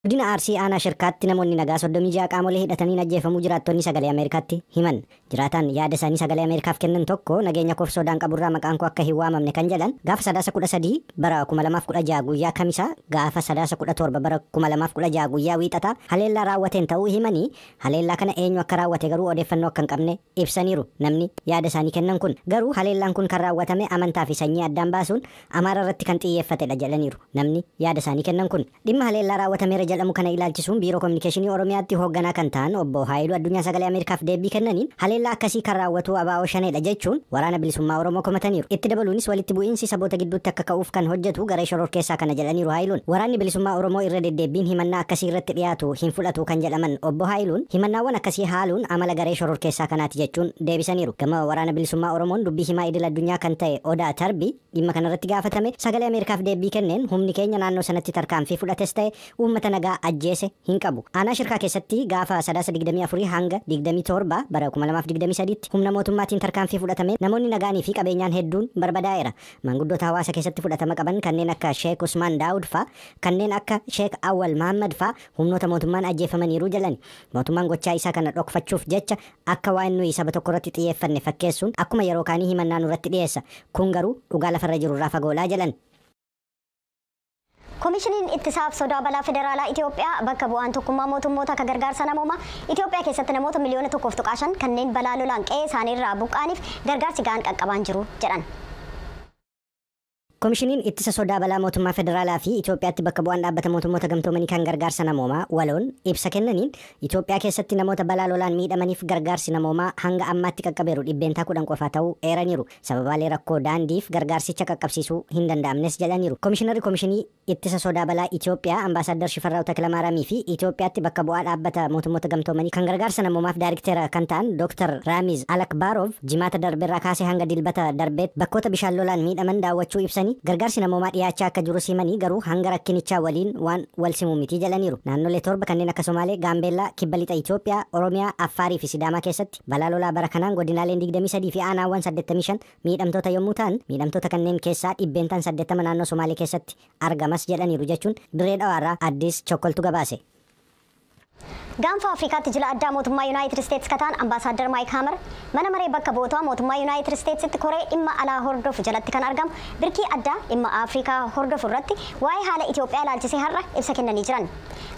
Godina Arsii Aanaa Shirkaatti namoonni nagaa 36 qaamolee hidhataniin ajjeefamuu jiraattonni Sagalee Ameerikaatti himan. Jiraataan yaada isaanii Sagalee Ameerikaaf kennan tokko nageenya koof sodaan qaburraa maqaan koo akka hin waamamne kan jedhan gaafa Sadaasa 13 bara 2016 guyyaa Kamisaa gaafa Sadaasa 17 bara 2016 guyyaa Wiixataa haleellaa raawwateen ta'uu himanii haleellaa kana eenyu akka raawwate garuu odeeffannoo akka hin qabne ibsaniiru. Namni yaada isaanii kennan kun garuu haleellaan kun kan raawwatame amantaa fi sanyii addaan baasuun Amaara irratti kan xiyyeeffatedha jedhaniiru. Namni yaada isaanii kennan kun. Dhimma haleellaa raawwatameera jedhamu kana ilaalchisuun Biiroo Kominikeeshinii Oromiyaatti hoogganaa kan ta'an Obbo Haayiluu Addunyaa Sagalee Ameerikaaf deebbii kennaniin, haleellaa akkasii kan raawwatu abo Shaneedha jechuun Waraana Bilisummaa Oromoo komataniiru. Itti dabaluunis walitti bu'iinsi saboota gidduutti akka ka'uuf kan hojjetu garee shororkeessaa kana jedhaniiru Haayiluun. Waraanni Bilisummaa Oromoo irra deddeebbiin himannaa akkasii irratti dhiyaatu hin fudhatu kan jedhaman Obbo Haayiluun, himannaawwan akkasii haaluun amala garee shororkeessaa kanaati jechuun deebisaniiru. Gama Waraana Bilisummaa Oromoon dubbii himaa idil addunyaa kan ta'e Odaa Tarbii, Dhimma kanarratti gaafatame sagalee Ameerikaaf deebbii kenneen humni keenya naannoo sanatti tarkaanfii fudhates ta'e uummata nagaa ajjeese hin qabu. Aanaa Shirkaa keessatti gaafa Sadaasa 24 hanga 27 bara 2023tti humna mootummaatiin tarkaanfii fudhatameen namoonni nagaanii fi qabeenyaan hedduun barbadaa'eera. Maanguddoota hawaasa keessatti fudhatama qaban kanneen akka Sheek Usmaan Daawud faa, kanneen akka Sheek Awwal Mahaammad faa humnoota mootummaan ajjeefamaniiru jedhani. Mootummaan gochaa isaa kana dhokfachuuf jecha Akka waan nuyi saba tokkorratti xiyyeeffanne fakkeessuun akkuma yeroo kaanii himannaa nurratti dhiyeessa. Kun garuu dhugaa lafarra jirurraa fagoodha jedhan. Komishiniin Ittisaaf Sodaa Balaa Federaalaa Itiyoophiyaa bakka bu'aan Tokkummaa Mootummoota akka gargaarsa namoomaa Itiyoophiyaa keessatti namoota miliyoona 1.5 kanneen balaa lolaan qe'ee isaanii irraa buqqa'aniif gargaarsi ga'aan qaqqabaan jiru jedhan. Komishiniin Ittisa Sodaa Balaa Mootummaa Federaalaa fi Itoophiyaatti Bakka Bu'aan Dhaabbata Mootummoota Gamtoomanii kan Gargaarsa Namoomaa, waloon, ibsa kennaniin, Itoophiyaa keessatti namoota balaa lolaan miidhamaniif gargaarsi namoomaa hanga ammaatti qaqqabeeru dhibbeentaa 10 qofa ta'uu eeraniiru. Sababaalee rakkoo daandiif gargaarsicha qaqqabsiisuu hin danda'amnes jedhaniiru. Komishinarri Komishinii. Ittisa Sodaa Balaa Itiyoophiyaa Ambaasaaddar Shifarraaw Takilamaaraamii fi Itiyoophiyaatti Bakka Bu'aa Dhaabbata Mootummoota Gamtoomanii kan Gargaarsa Namoomaaf Daarikteera kan ta'an Dooktar Raamiz Alakbaaroov Jimaata darberraa kaasee hanga Dilbata darbeett bakkoota bishaan lolaan miidhaman daawwachuu ibsanii, gargaarsi namoomaa dhiyaachaa akka jirus himanii garuu hanga rakkinichaa waliin waan walsimu miti jedhaniiru. Naannolee torba kanneen akka Somaalee, Gaambeellaa, Kibba Lixa Itiyoophiyaa, Oromiyaa, Affaarii fi Sidaamaa keessatti balaa lolaa bara kanaan godinaaleen 23 fi aanaawwan 85 miidhamtoota yommuu ta'an, miidhamtoota kanneen keessaa dhibbeentaan 80 naannoo Somaalee keessatti argamas jedhaniiru jechuun Dirree Dhawaarraa Addis Chokkoltu gabaase. Gaanfa Afrikaatti jila addaa mootummaa Yunaayitid Isteets ka ta'an Ambaasaaddar Maayik Haamar, Mana Maree Bakka Bu'ootaa mootummaa Yunaayitid Isteetsitti koree dhimma alaa hordofu jalatti kan argamu birkii addaa dhimma Afrikaa hordofu irratti waa'ee haala Itiyoophiyaa ilaalchisee har'a ibsa kennanii jiran.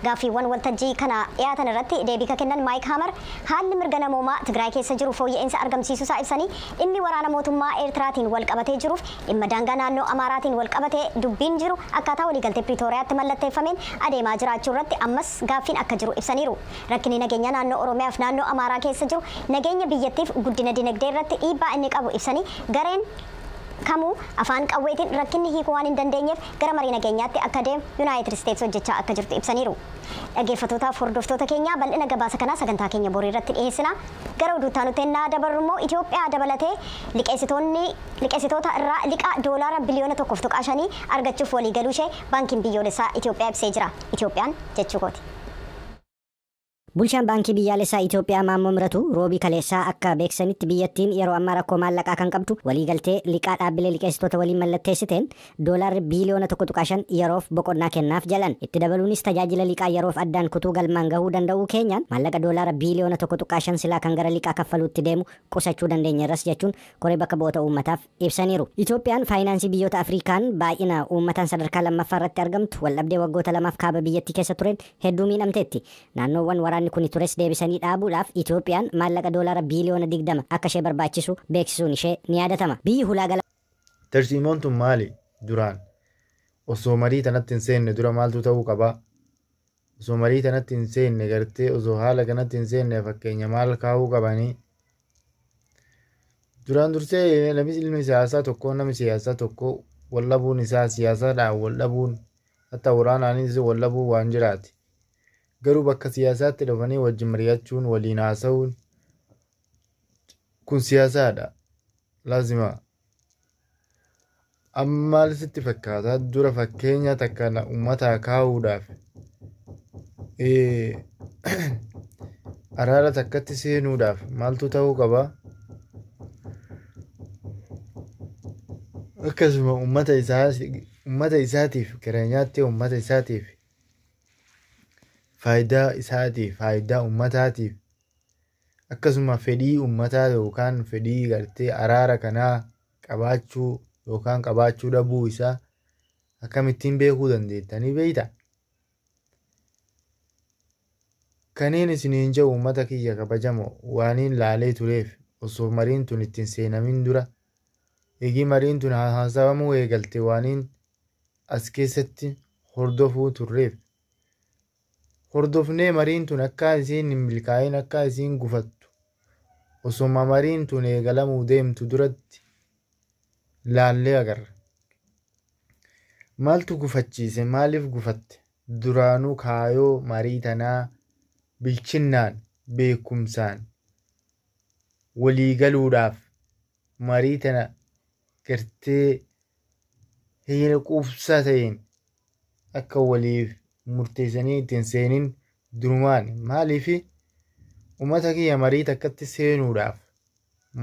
Gaaffiiwwan waltajjii kana dhiyaatan irratti deebii ka kennan Maayik Haamar, haalli mirga namoomaa Tigraay keessa jiru fooyya'insa argamsiisusaa ibsanii, dhimmi waraana mootummaa Eertiraatiin wal qabatee jiruuf dhimma daangaa naannoo Amaaraatiin wal qabatee dubbiin jiru akkaataa waliigaltee Piriitooriyaatti mallatteeffameen adeemaa jiraachuu irratti ammas gaaffiin akka jiru ibsaniiru. Rakkinni nageenyaa naannoo Oromiyaaf naannoo Amaaraa keessa jiru nageenya biyyattiif guddina dinagdee irratti dhiibbaa inni qabu ibsanii, gareen kamuu afaan qawweetiin rakkinni hiikuu waan hin dandeenyeef gara marii nageenyaatti akka deemu Yunaayitid Isteets hojjechaa akka jirtu ibsaniiru. Dhageeffatootaaf hordoftoota keenyaa bal'ina gabaasa kanaa sagantaa keenya borii irratti dhiheessina. Gara oduu itti aanutti ennaa dabarru immoo Itiyoophiyaa dabalatee liqeessitoonni liqeessitoota irraa liqaa doolaara biliyoona 1.5 argachuuf waliigaluu ishee Baankiin Biyyoolessaa Itiyoophiyaa ibsee jira. Itiyoophiyaan jechuu kooti. Bulchaan Baankii Biyyaalessaa Itoophiyaa Maammoo Miratuu Roobii kaleessaa akka beeksisanitti biyyattiin yeroo ammaa rakkoo maallaqaa kan qabdu waliigaltee liqaa dhaabbilee liqeessitoota waliin mallatteessiteen doolaarri biiliyoona 1.5 yeroof boqonnaa kennaaf jedhan. Itti dabaluunis tajaajila liqaa yeroof addaan kutuu galmaan gahuu danda'uu keenyaan maallaqa doolaara biiliyoona 1.5 silaa kan gara liqaa kaffaluutti deemu qusachuu dandeenyeerras jechuun koree bakka bu'oota uummataaf ibsaniiru. Itoophiyaan faayinaansii biyyoota Afriikaan baay'ina uummataan sadarkaa lammaffaa irratti argamtu waldhabdee waggoota lamaaf kaaba biyyattii keessa tureen hedduu miidhamteetti. Naannoowwan waraanni kuni tures deebisanii dhaabuudhaaf Itoophiyaan maallaqa doolaara biiliyoona 20 akka ishee barbaachisu beeksisuun ishee ni yaadatama. Biyyi hulaa galaanaa. Tarsiimoon tun maali? Duraan osoo marii tanatti hin seenne dura maaltu ta'uu qaba? osoo marii tanatti hin seenne gartee osoo haala kanatti hin seenne fakkeenya maal kaa'uu qabanii duraan dursee namni ilmi siyaasaa tokko namni siyaasaa tokko wal dhabuun isaa siyaasaadhaan wal dhabuun hatta waraanaanis wal dhabuu waan jiraati garuu bakka siyaasaatti dhufanii wajjin mari'achuun waliin haasa'uun kun siyaasaadha laazima Amma maal sitti fakkaata dura fakkeenya takka na ummataa kaa'uudhaaf eh, araara takkatti seenuudhaaf maaltu ta'uu qaba? Akkasuma ummata isaa ummata isaatiif kireenyaatti ummata isaatiif faayidaa isaatiif faayidaa ummataatiif akkasuma fedhii ummataa yookaan fedhii gartee araara kanaa qabaachuu yookaan qabaachuu dhabuu isaa akkamittiin beekuu dandeettanii beeyta? Kaniin isiniin jedhu uummata kiyya kabajamoo waaniin laalee tureef osoo mariin tun ittiin seenamin dura eegii mariin tun haasawamuu eegalte waaniin as keessatti hordofuu turreef hordofnee mariin tun akkaa isiin hin milkaa'iin akkaa isiin gufattu osoma mariin tun eegalamuu deemtu duratti laallee agarra. Maaltu gufachiise maaliif gufatte duraanuu kaayoo marii tanaa bilchinnaan beekumsaan walii galuudhaaf marii tana gartee heera quubsaa ta'een akka waliif murteessanii itti hin seenin durumaan maaliif ummata kiyya marii takkatti seenuudhaaf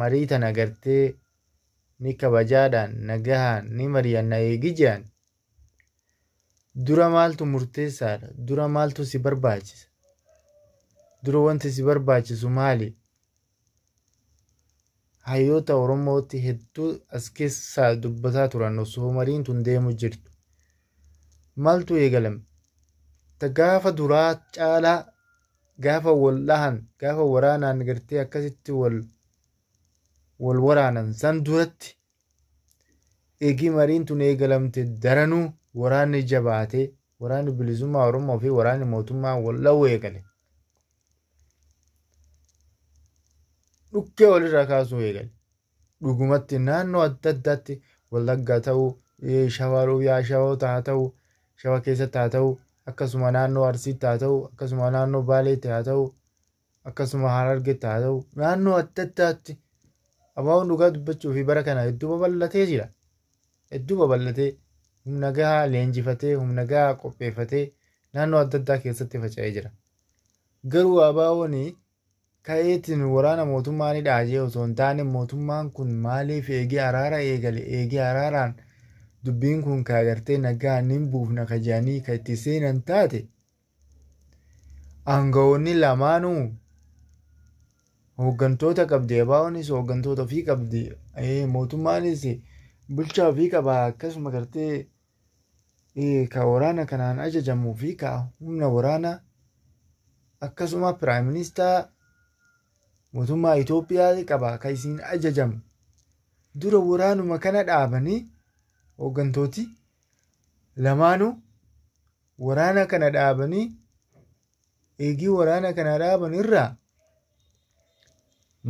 marii tana gartee ni kabajaadhaan nagahaan ni mari'anna eegi jedhan dura maaltu murteessaadha dura maaltu si barbaachisa dura wanti si barbaachisu maali hayyoota Oromootti hedduu as keessaa dubbataa turan osoo mariin tun deemu jirtu. Maaltu eegalame? Ta gaafa duraa caalaa gaafa wal dhahan gaafa waraanaan gartee akkasitti wal wal waraanan san duratti eegii mariin tun eegalamte daranuu waraanni jabaatee waraanni bilisummaa Oromoo fi waraanni mootummaa wal dha'uu eegale. dhukkee walirraa kaasuu eegale. Dhugumatti naannoo adda addaatti wallaggaa ta'uu, shawaa roobiyaa shawoota haa ta'u, shawa keessatti haa ta'u, akkasuma naannoo arsiitti haa ta'u, akkasuma naannoo baaleetti haa ta'u, akkasuma harargetti haa ta'u, naannoo adda addaatti abaaboon dhugaa dubbachuu fi bara kana hedduu babal'atee jira. Hedduu babal'atee humna gahaa leenjifatee, humna gahaa qopheeffatee naannoo adda addaa keessatti faca'ee jira. Garuu ABO'n ka'eetiin waraana mootummaa ni dhaajee osoo hin taane mootummaan kun maaliif eegee araara eegale eegee araaraan dubbiin kun ka agartee nagaa ni buufna ka jedhanii ka itti seenan taate aangawoonni lamaanuu hooggantoota qabdi ABO'nis hooggantoota ofii qabdi mootummaanis bulchaa ofii qaba akkasuma gartee ka waraana kanaan ajajamuu fi ka humna waraanaa akkasuma piraayim ministaa mootummaa Itoophiyaa qaba ka isiin ajajamu dura waraanuma kana dhaabanii hooggantooti lamaanuu waraana kana dhaabanii eegii waraana kana dhaaban irraa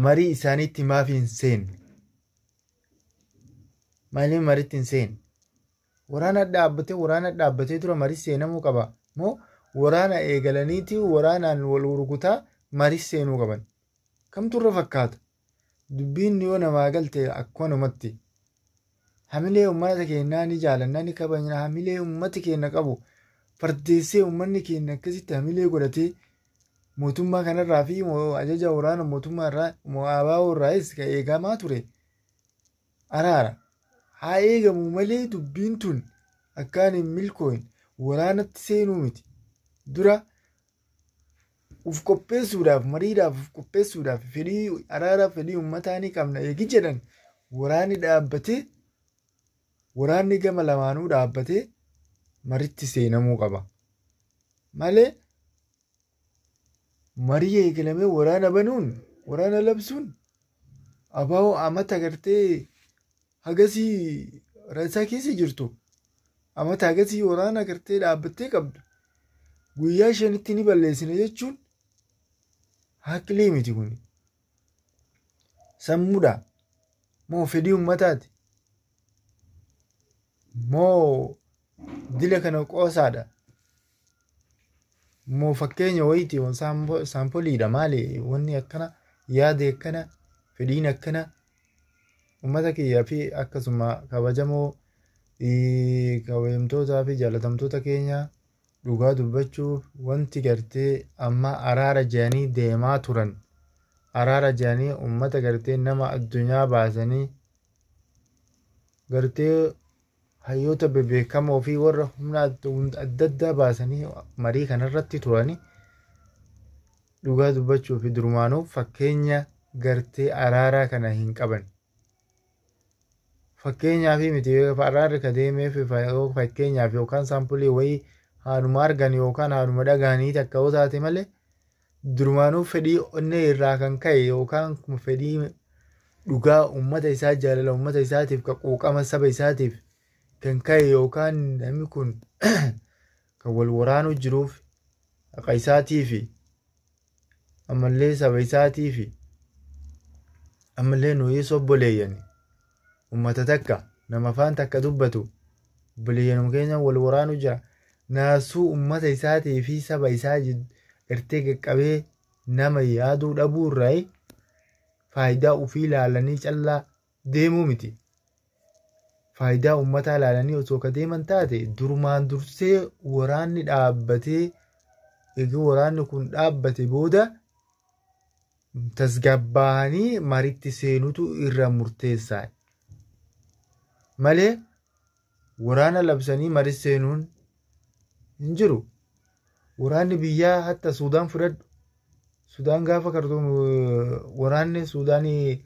marii isaaniitti maaf hin seenne Maaliif maritti hin seene? Waraana dhaabbatee waraana dhaabbatee dura marii seenamuu qaba moo waraana eegalaniiti waraanaan wal gurgutaa marii seenuu qaban? Kamtu irra fakkaata? Dubbiin yoo namaa galte akkanumatti. Hamilee uummata keenyaa ni jaalannaa ni kabajna hamilee uummati keenya qabu fardeessee uummanni keenya akkasitti hamilee godhatee mootummaa kanarraa fi moo- ajaja waraana mootummaa irraa moo abaa'oo irraayis ka eegamaa ture araara haa eegamu malee dubbiin tun akkaan hin milkooyin waraanatti seenuu miti dura uf qopheessuudhaaf mariidhaaf uf qopheessuudhaaf fedhii araaraaf fedhii ummataa ni qabna eegi jedhan waraanni dhaabbatee waraanni gama lamaanuu dhaabbatee maritti seenamuu qaba. Malee marii eegalamee waraana banuun waraana labsuun abaa'oo amata gartee hagasii rasaa keessa jirtu amata hagasii waraana gartee dhaabbattee qabdu guyyaa shanitti ni balleessina jechuun haqlii miti kun Sammuudha. Moo fedhii uummataati? Moo dila kana qoosaadha? Moo fakkeenya wayiiti moo saampo- saampoliidha maali wanni akkana yaadi akkana fedhiin akkana uummata kiyyaa fi akkasuma kabajamoo eh, kabajamtootaa fi jaalatamtoota keenya Dhugaa dubbachuuf wanti gartee amma araara jedhanii deemaa turan araara jedhanii uummata gartee nama addunyaa baasanii gartee hayyoota bebeekamoo fi warra humna adda addaa baasanii marii kanarratti turanii dhugaa dubbachuuf durumaanuu fakkeenya gartee araaraa kana hin qaban. Fakkeenyaaf miti farraarri ka deemeef fakkeenyaaf yookaan saampulii wayii haanuma argan yookaan haanuma dhagahanii takka yoo taate malee durumaanuu fedhii onnee irraa kan ka'e yookaan fedhii dhugaa uummata isaa jaalala uummata isaatiif ka quuqama saba isaatiif kan ka'e yookaan namni kun kan wal waraanuu jiruuf haqa isaatiifi ammallee saba isaatii fi ammallee nuyis obboleeyyani ummata takka nama afaan takka dubbatu obboleeyyanuma keenya wal waraanu jira naasuu ummata isaatii fi saba isaa irtee qaqqabee nama yaaduu dhabuu irraa faayidaa ofii ilaalanii callaa deemuu miti. Faayidaa uummataa ilaalanii osoo ka deeman taate durumaan dursee waraanni dhaabbatee egaa waraanni kun dhaabbate booda tasgabbaa'anii maritti seenutu irra murteessaadha. Malee Waraana labsanii maris seenuun hin jiru. Waraanni biyyaa hatta Suudaan fudhadhu. Suudaan gaafa kartuun waraanni Suudaanii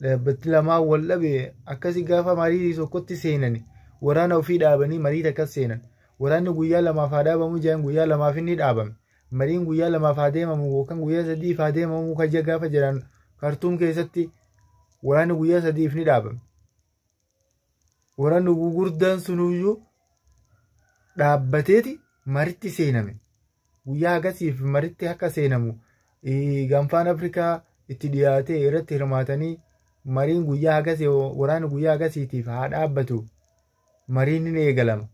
dhaabbatti lamaa wal dhabe akkasi gaafa marii tokkotti seenani waraana ofii dhaabanii marii takkas seenan. Waraanni guyyaa lamaaf haa dhaabamu jedhan guyyaa lamaaf inni dhaabame. Mariin guyyaa lamaaf haa deemamu yookaan guyyaa sadiif haa deemamu kaja gaafa jedhan kartuun keessatti waraanni guyyaa sadiif ni dhaabame. Waraanni gugurdaan sunuyyuu dhaabbateeti maritti seename. Guyyaa akkasiif maritti akka seenamu gaanfaan Afrikaa itti dhiyaatee irratti hirmaatanii mariin guyyaa akkasii waraanni guyyaa akkasiitiif haa dhaabbatu mariin ni eegalama.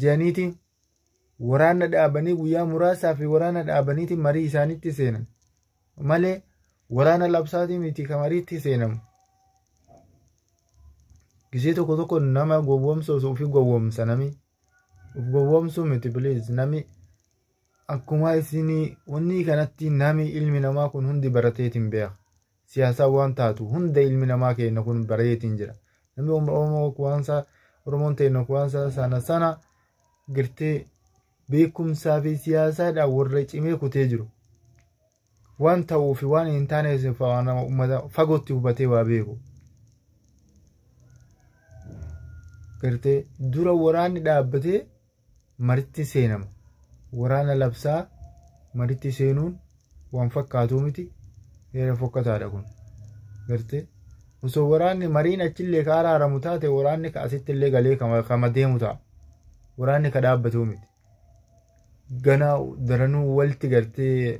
Jedhaniiti waraanna dhaabanii guyyaa muraasaa fi waraanna dhaabaniiti marii isaanitti seenan. malee waraana labsaatii miti ka mariitti seenamu. Gisee tokko tokko nama gowwoomsu osoo ofii gowwoomsa nami. Of gowwoomsuu miti please nami akkuma isinii wanni kanatti nami ilmi namaa kun hundi barateetiin beeka. Siyaasaa waan taatu hunda ilmi namaa keenya kun bareetiin jira. Namni Oromoo kuwaansaa Oromoon teenya kuwaansaa sana sana girtee beekumsaa fi siyaasaadhaan warra cimee kutee jiru. Waan ta'uu fi waan hin taane nama uummata fagootti hubatee waa beeku. Gartee dura waraanni dhaabbatee maritti seenama. Waraana labsaa maritti seenuun waan fakkaatuu miti heera fokkataadha kun gartee osoo waraanni mariin achillee ka araaramu taate waraanni ka asitti illee galee kama deemu ta'a waraanni ka dhaabbatuu miti ganaa daranuu walti gartee